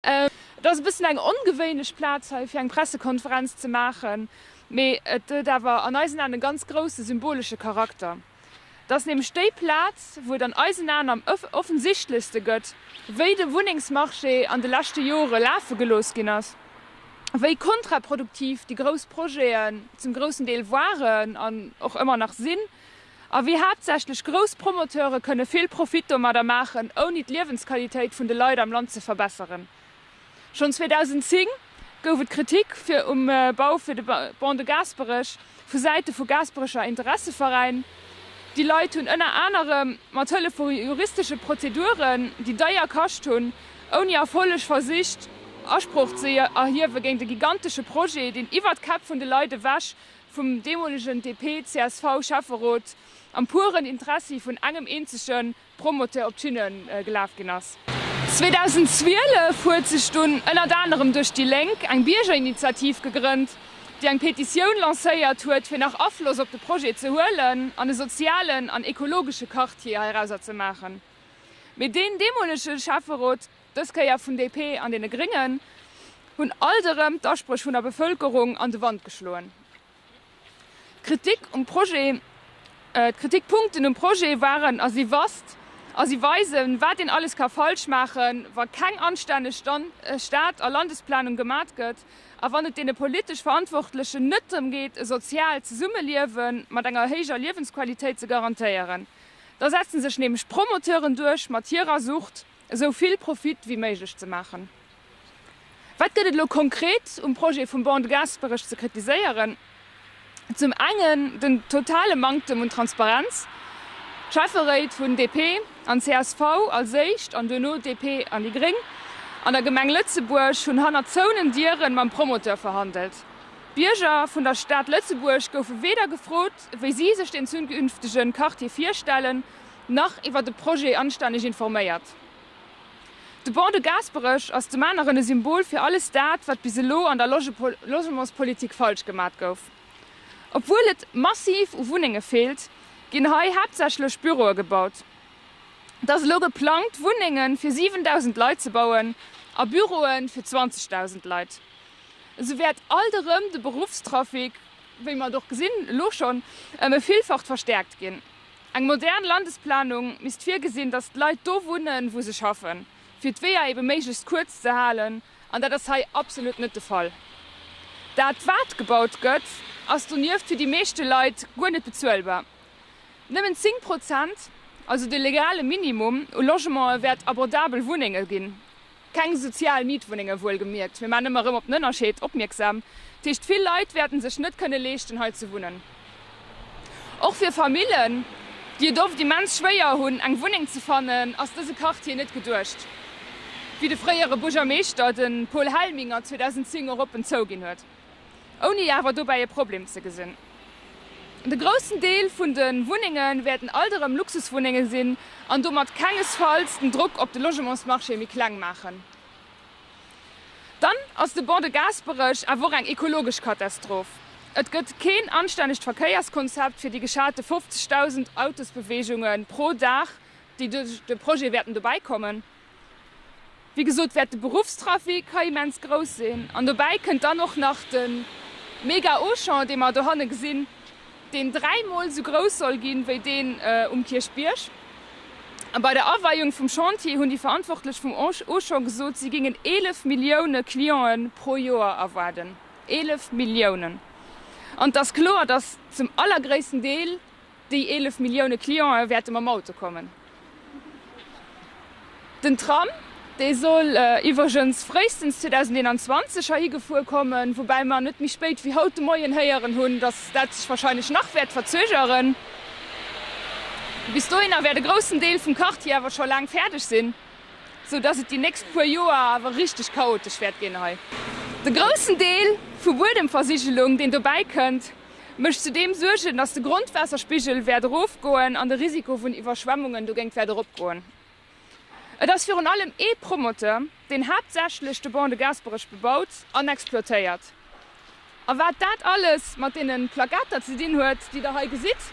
Et ass e bëssen eng ongewéinlech Plaz hei fir eng Pressekonferenz ze maachen, mee et huet awer an eisen Aen e ganz grousse symbolesche Charakter. Et ass nämlech déi Plaz, wou et an eisen Aen am offensichtlechste gëtt, wéi de Wunnengsmarché an de leschte Jore lafe gelooss ginn ass, wéi kontraproduktiv déi grouss Projeten zum groussen Deel waren an och ëmmer nach sinn. A wéi haaptsächlech grouss Promoteure kënne vill Profit domadder maachen, ouni d'Liewensqualitéit vun de Leit am Land ze verbesseren. Schonn 2010 gouf et Kritik um Bau fir de Pont de Gaasperech vu Säite vu Gaasperecher Interesseveräin. Déi Leit hunn ënner anerem mat Hëllef vu juristesche Prozeduren, déi deier kascht hunn, ouni Erfolleg versicht, Asproch ze erhiewe géint e gigantesche Projet, deen iwwer d'Käpp vun de Leit ewech vum deemolegen DP-CSV-Schäfferot am puren Interessi vun engem eenzege Promoteur op d'Tüne gelaf ginn ass. 2012 huet sech dunn ënnert anerem duerch déi Lénk eng Biergerinitiativ gegrënnt, déi eng Petitioun lancéiert huet, fir nach Afloss op de Projet ze huelen an e sozialen an ekologesche Quartier heirauser ze maachen. Mee deen deemolege Schäfferot dës Kéier vun DP an deene Gréngen, hunn alt erëm d'Aspréch vun der Bevëlkerung an de Wand geschloen. D'Kritik um Projet, d'Kritikpunkten um Projet waren a si wasst a si weisen, wat een alles ka falsch maachen, wa keng anstänneg Stad a Landesplanung gemat gëtt a wann et deene politesch Verantwortlechen net drëm geet, e soziaalt Zesummeliewe mat enger héijer Liewensqualitéit ze garantéieren. Da setze sech nämlech d'Promoteuren duerch mat hirer Sucht. esou vill Profit wéi méiglech ze maachen. Wat gëtt et elo konkret um Projet vum Bon de Gaasperech ze kritiséieren? Zum engen den totale Manktem un Transparenz, Schäfferéit vun DP an csv als éischt an duerno DP an déi Gréng an der Gemeng Lëtzebuerg hunn hannert zouenen Dieren mam Promoteur verhandelt. D'Bierger vun der Stad Lëtzebuerg goufe weder gefrot, wéi si sech den zukünftegen Quartier virstellen, nach iwwer de Projet anstänneg informéiert. De Bon de Gaasperech ass dem aneren e Symbol fir alles dat, wat bis elo an der Logementspolitik falsch gemat gouf. Obwuel et massiv u Wunnenge feelt, ginn hei haaptsächlech Büroe gebaut. Et ass elo geplangt, Wunnenge fir 7.000 Leit ze bauen a Büroe fir 20.000 Leit. Esou wäert alt erëm de Beruffstrafic, wéi mer et och gesinn elo schonn, ëm e Villfacht verstäerkt ginn. Eng modern Landesplanung misst virgesinn, datt d'Leit do wunnen, wou se schaffen, fir d'Weeër ebe méiglechst kuerz ze halen, an dat ass hei absolut net de Fall. Dat, wat gebaut gëtt, ass donieft fir déi meeschte Leit guer net bezuelbar. Nëmmen 10 Prozent, also de legale Minimum u Logementen, wäert abordabel Wunnenge ginn, Keng sozial Mietwunnenge wuelgemierkt, mir maachen ëmmer erëm op den Ënnerscheed opmierksam. Dat heescht, vill Leit wäerten sech net kënne leeschten hei ze wunnen. Och fir Famillen, déi et oft immens schwéier hunn eng Wunneng ze fannen, ass dëse Quartier net geduecht, wéi de fréiere Buergermeeschter, de Paul Helminger, 2010 och oppen zouginn huet. ouni awer dobäi e Problem ze gesinn. De groussen Deel vun de Wunnenge wäerten alt erëm Luxuswunnenge sinn an domat kengesfalls den Drock op de Logementsmarché méi kleng maachen. Dann ass de Ban de Gaasperech awer och eng ekologesch Katastroph. Et gëtt keen anstännegt Verkéierskonzept fir déi geschate 50.000 Autosbeweegunge pro Dag, déi duerch de Projet wäerten dobäi kommen. Wéi gesot wäert de Beruffstrafic hei immens grouss sinn an dobäi kënnt dann och nach de mega Auchan, dee mer dohanne gesinn, deen dräimol esou grouss soll ginn, wéi deen um Kierchbierg. A bei der Aweiung vum Chantier hunn déi Verantwortlech vum Auchan gesot, si géingen 11 Millioune Cliente pro Joer erwaarden. 11 Milliounen! An et ass kloer, dass zum allergréissten Deel Déi 11 Millioune Clientë wäerte mam Auto kommen. Den Tram, dee soll iwwregens fréistens 2021 heihi gefuer kommen, woubäi mer net méi spéit wéi haut de Moien héieren hunn, datt dat sech warscheinlech nach wäert verzögeren. Bis dohinner wäert e groussen Deel vum Quartier awer scho laang fäerdeg sinn, sou datt et déi nächst puer Joer awer richteg chaotesch wäert ginn hei. De groussen Deel vu Buedemversigelung, deen dobäi kënnt, mécht zudeem Suergen, datt de Grondwaasserspigel wäert erofgoen an de Risiko vun Iwwerschwemmungen dogéint wäert eropgoen. Et ass virun allem ee Promoteur, deen haaptsächlech de Ban de Gaasperech bebaut an exploitéiert. A wat dat alles mat deene Plakater ze dinn huet, déi Der hei gesitt,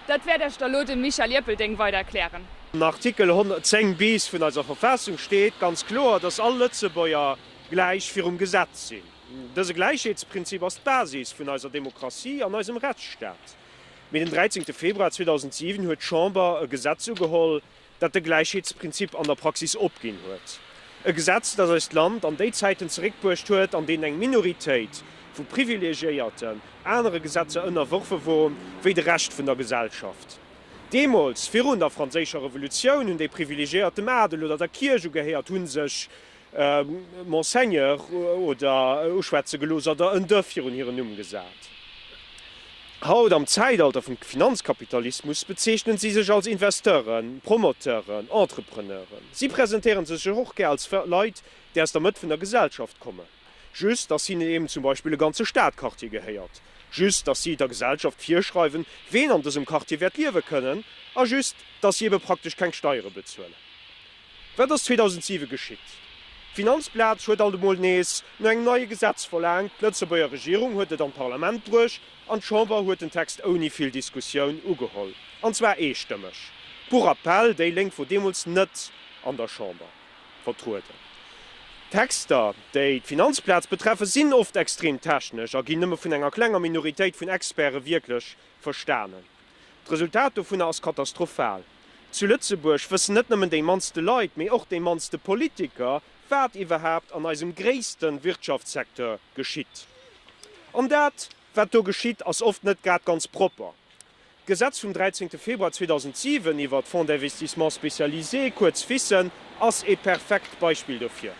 dat wäert Iech da lo de Michel Ierpelding weider erklären. Am Artikel 110 bis vun eiser Verfassung steet ganz kloer, datt all Lëtzebuerger gläich virum Gesetz sinn. Dëse Gläichheetsprinzip ass d'Basis vun eiser Demokratie an eisem Rechtsstaat. Mee den 13 Februar 2007 huet d'Chamber e Gesetz ugeholl, dat de Gläichheetsprinzip an der Praxis opginn huet. E Gesetz, dat eist Land an déi Zäiten zeréckbruecht huet, an deenen eng Minoritéit vu Privilegiéierten anere Gesetzer ënnerworfe wor wéi de Rescht vun der Gesellschaft. Deemools, virun der Franséischer Revolutioun, hunn déi Privilegiéiert dem Adel oder der Kierch ugehéiert, hu sech Monseigneur oder uschwätze gelooss oder en de virun hiren Numm gesat. Haut, am Zäitalter vum Finanzkapitalismus, bezeechnen si sech als Investeuren, Promoteuren, Entrepreneuren. Si presentéiere sech och gär als Leit, déi aus der Mëtt vun der Gesellschaft kommen, just datt hinnen eben zum Beispill e ganze Stadquartier gehéiert, just datt si der Gesellschaft virschreiwen, ween an dësem Quartier wäert liewe kënnen a just datt si ebe praktesch keng Steiere bezuelen. Wat ass 2007 geschitt? D'Finanzplaz huet alt emol nees no engem neie Gesetz verlaangt, d'Lëtzebuerger Regierung huet et an d'Parlament bruecht an d'Chamber huet den Text ouni vill Diskussioun ugeholl, an zwar eestëmmeg. Pour rappel, déi Lénk wor deemools net an der Chamber vertrueden. D'Texter, déi d'Finanzplaz betreffen, sinn oft extrem technesch a ginn nëmme vun enger klenger Minoritéit vun Experte wierklech Verstanen. D'Resultat dovunner ass katastrophal. Zu Lëtzebuerg wëssen net nëmmen déi mannste Leit, mee och déi mannste Politiker, wat iwwerhaapt an eisem gréisste Wirtschaftssecteur geschitt. An dat, wat do geschitt, ass oft net grad ganz propper. D'Gesetz vum 13 Februar 2007 iwwert Fonds d'investissements spécialisés, kuerz FISen, ass ee perfekt Beispill dofir.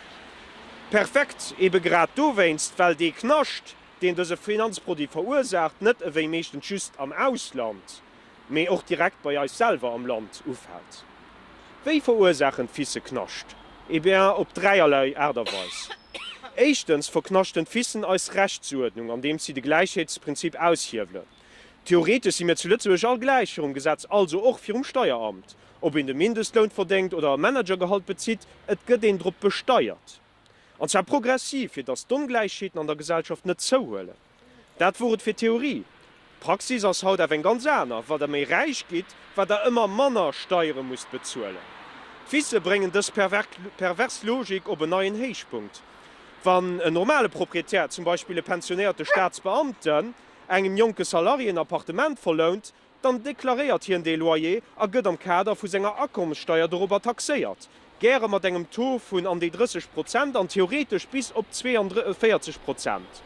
Perfekt ebe grad dowéinst, well dee Knascht, deen dëse Finanzproduit verursaacht, net ewéi meeschtens just am Ausland, mee och direkt bei eis selwer am Land ufält. Wéi verursaachen d'Ficë Knascht? Eh bien, op dräierlei Aart a Weis. Éischtens verknaschten d'Ficen eis Rechtsuerdnung, andeems si de Gläichheetsprinzip aushiewelen. Theoretesch si mir zu Lëtzebuerg all gläich virum Gesetz, also och virum Steieramt. Ob een de Mindestloun verdéngt oder e Managergehalt bezitt, et gëtt een drop besteiert. an zwar progressiv, fir datt d'Ongläichheeten an der Gesellschaft net zouhuelen. Dat wor et fir d'Theorie. D'Praxis ass haut awer eng ganz aner, Wat der méi räich gitt, wat der ëmmer manner Steiere musst bezuelen. D'Fisse bréngen dës pervers Logik op en neien Héichpunkt. Wann en normale Proprietär, zum Beispill e pensionéierte Staatsbeamten, engem jonke Salarié en Appartement verlount, Dann deklaréiert hien dee Loyer a gëtt am Kader vu senger Akommessteier dorobber taxéiert, gäre mat engem Taux vun an déi 30 Prozent an theoretesch bis op 42 Prozent.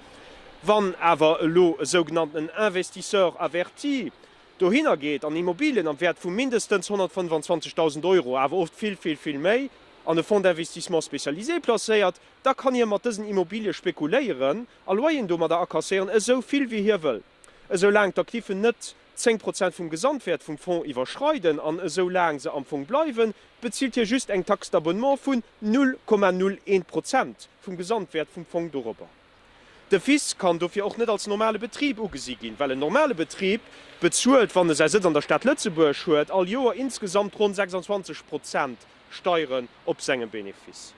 Wann awer elo e sougenannten Investisseur averti dohinner geet an Immobilien am Wäert vu mindestens 125.000 Euro, awer oft vill, vill, vill méi, an e Fonds d'investissement spécialisé placéiert, da kann hie mat dësen Immobilië spekuléieren a Loyeren domadder akasséieren, esou vill wéi hie wëll. Esou laang d'Aktiven net 10 Prozent vum Gesamtwäert vum Fonds iwwerschreiden an esou laang se am Fong bleiwen, bezilt hie just eng Taxe d'abonnement vun 0,01 Prozent vum Gesamtwäert vum Fong dorobber. De FIS kann dofir och net als normale Betrib ugesi ginn, well en normale Betrib bezuelt, wann e säi Sëtz an der Stad Lëtzebuerg huet, all Joer insgesamt ronn 26 Prozent Steieren op senge Benefice.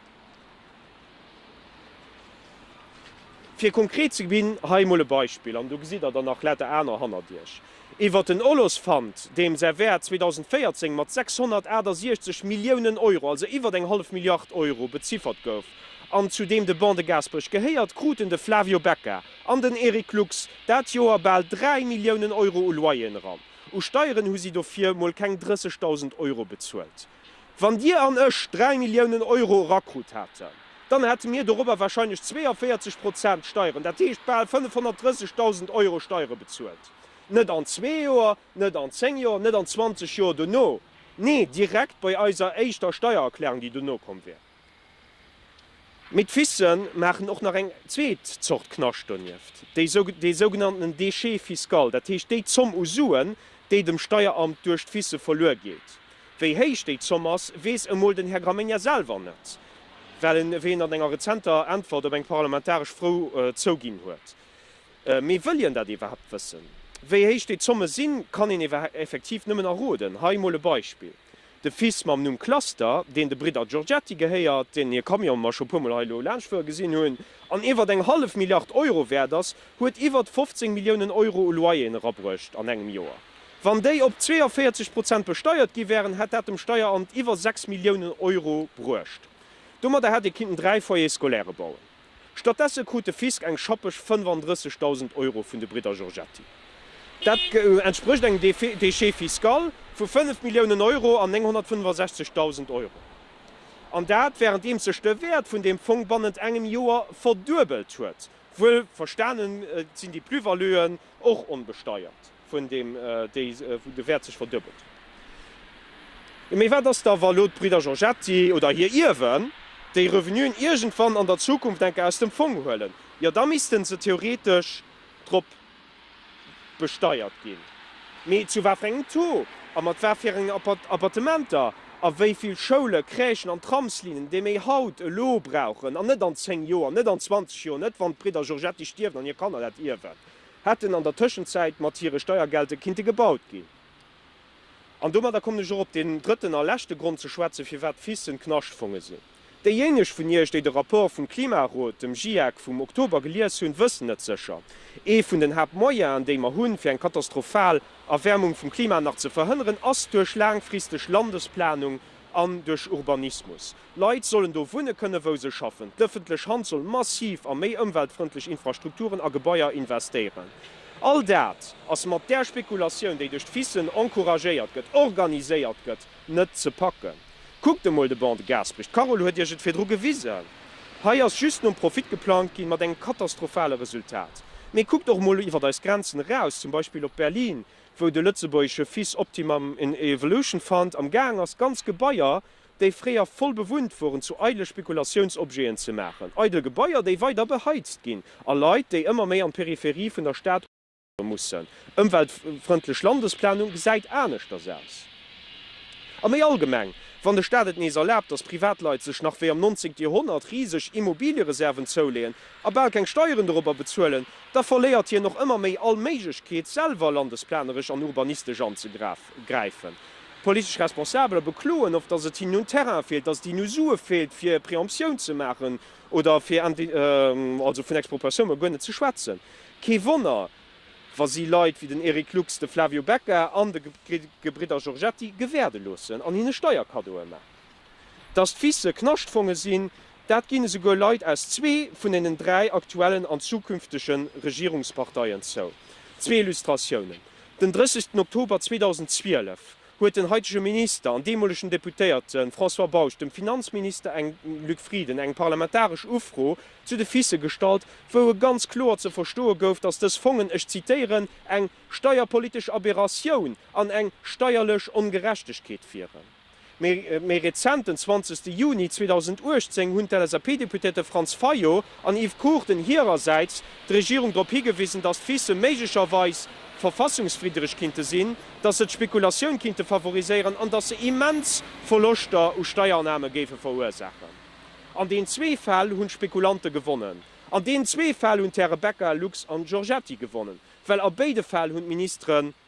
Fir konkret ze ginn, hei emol e Beispill, an do gesitt Der der nach later aner hannert Iech, iwwert den Olospfand, deem säi Wäert 2014 mat 668 Milliounen Euro, also iwwert eng hallef Milliard Euro, beziffert gouf, an zu deem de Ban de Gaasperech gehéiert, kruten de Flavio Becca an den Eric Lux dat Joer bal 3 Milliounen Euro u Loyeren eran. U Steieren hu si dofir mol keng 30.000 Euro bezuelt. Wann Dir an ech 3 Milliounen Euro erakrut haten, dann hate mir dorobber wahrscheinlech 42 Prozent Steieren, dat heescht bal 530.000 Euro Steiere bezuelt. Net an zwee Joer, net an zéng Joer, net an 20 Joer dono, nee direkt bei eiser éischter Steiererklärung, déi dono komm wär. Mee d'Fisse maachen och nach eng zweet Zort Knascht donieft, dee sougenannten Déchet fiscal, dat heescht déi Zomm u Suen, déi dem Steieramt duerch d'Fisse verluer geet. Wéi héich déi Zomm ass, weess emol den Här Gramegna selwer net, well en wéi en an enger rezenter Äntwert op eng parlamentaresch Fro zouginn huet. Mee wëll hien dat iwwerhaapt wëssen? Wéi héich déi Zomme sinn, kann een effektiv nëmmen erroden. Hei emol e Beispill. De Fils mam Numm Cluster, deen de Bridder Giorgetti gehéiert, deenen hir Camion mer scho puer mol hei elo laanschtfuere gesinn hunn, an iwwert eng hallef Milliard Euro wäert ass, huet iwwert 15 Milliounen Euro u Loyeren erabruecht an engem Joer. Wann déi op 42 Prozent besteiert gi wären, hätt dat dem Steieramt iwwer 6 Milliounen Euro bruecht. Domadder hätt ee kinnten dräi Foyers scolaires bauen. Stattdesse krut de Fisk eng schappeg 35.000 Euro vun de Bridder Giorgetti. Dat entsprécht engem Déchet fiscal vu 5 Milliounen Euro an 965.000 Euro. An dat wärenddeems sech de Wäert vun deem Fong bannent engem Joer verduebelt huet. Wuel verstanen sinn déi Plus-valuën och onbesteiert. vun deem déi, wou de Wäert sech verduebelt. Mee wat ass da, wa elo d'Bridder Giorgetti oder hir Ierwen déi Revenuen iergendwann an der Zukunft enke aus dem Fong huelen? Jo, da misste se theoretesch drop besteiert ginn. Mee zu wat fir engem Taux a mat wat fir enge Appartementer? A wéi vill Schoulen, Crèchen an Tramslinnen, déi mir haut elo brauchen an net an zéng Joer, net an zwanzeg Joer, net wann d'Bridder Giorgetti stierwen an hir Kanner dat ierwen, hätten an der Tëschenzäit mat hire Steiergelte kinnte gebaut ginn. An domadder kommen ech och op deen drëtten a leschte Grond ze schwätzen, firwat d'FISen Knaschtfonge sinn. Déijéineg vun Iech, déi de Rapport vum Klimarot, dem GIEC, vum Oktober gelies hunn, wëssen et sécher, Ee vun den Haaptmoyenen, déi mer hunn, fir eng katastrophal Erwäermung vum Klima nach ze verhënneren, ass duerch laangfristeg Landesplanung an duerch Urbanismus. Leit sollen do wunne kënnen, wou se schaffen. D'ëffentlech Hand soll massiv a méi ëmweltfrëndlech Infrastrukturen a Gebaier investéieren. All dat ass mat där Spekulatioun, déi duerch d'FICen encouragéiert gëtt, organiséiert gëtt, net ze packen. Kuckt emol de Bon de Gaspry, d'Carole huet Iech et virdru gewisen. Hei ass just nom Profit geplangt ginn, mat engem katastrophale Resultat. Mee kuckt och emol iwwer eis Grenzen eraus, zum Beispill op Berlin, wou de lëtzebuergesche FIC Optimum in Evolution Fund amgaang ass, ganz Gebaier déi fréier voll bewunnt woren, zu eidele Spekulationsobjeten ze maachen, eidel Gebaier, déi weider beheizt ginn, a Leit, déi ëmmer méi an d'Peripherie vun der Stad ofwandere mussen. Ëmweltfrëndlech Landesplanung gesäit aneschters aus. A méi allgemeng, wann de Staat et nees erlaabt, dass Privatleit sech nach wéi am nonzéngte Joerhonnert riseg Immobiliereserven zouleeën a bal keng Steieren dorobber bezuelen, da verléiert hien och ëmmer méi all Méiglechkeet, selwer landesplaneresch an urbanistesch anzegrafen. Kapp gräifen. D'politesch Responsabeler bekloen oft, datt et hinnen un Terrain feelt, datt et hinnen u Sue feelt, fir Préemptioun ze maachen oder fir also vun Expropriatioun mol guer net ze schwätzen. Kee Wonner, wa si Leit wéi den Eric Lux, de Flavio Becca an de Gebridder Giorgetti gewäerde loossen an hinne Steierkaddoe maachen. Dass d'Fisse Knaschtfonge sinn, dat ginn esouguer Leit aus zwee vun deenen dräi aktuellen an zukünftege Regierungsparteien zou. Zwee Illustratiounen, Den 30 Oktober 2012 huet den haitege Minister an deemolegen Deputéierte François Bausch dem Finanzminister eng, Luc Frieden, eng parlamentaresch Ufro zu de Fisse gestallt, wou e ganz kloer ze verstoe gouf, dass dës Fongen, ech zitieren, eng steierpolitesch Aberratioun an eng steierlech Ongerechtegkeet wieren. Méi rezent, den 20 Juni 2018, hunn d'LSAP-Deputéierte Franz Fayot an Yves Cruchten hirersäits d'Regierung drop higewisen, datt d'Ficë méiglecherweis verfassungswiddereg kinnte sinn, datt se d'Spekulatioun kinnte favoriséieren an datt se immens Verloschter u Steiername géife verursaachen. An deenen zwee Fäll hunn d'Spekulanten gewonnen. An deenen zwee Fäll hunn d'Häre Becca, Lux an Giorgetti gewonnen, well a béide Fäll hunn d'Ministeren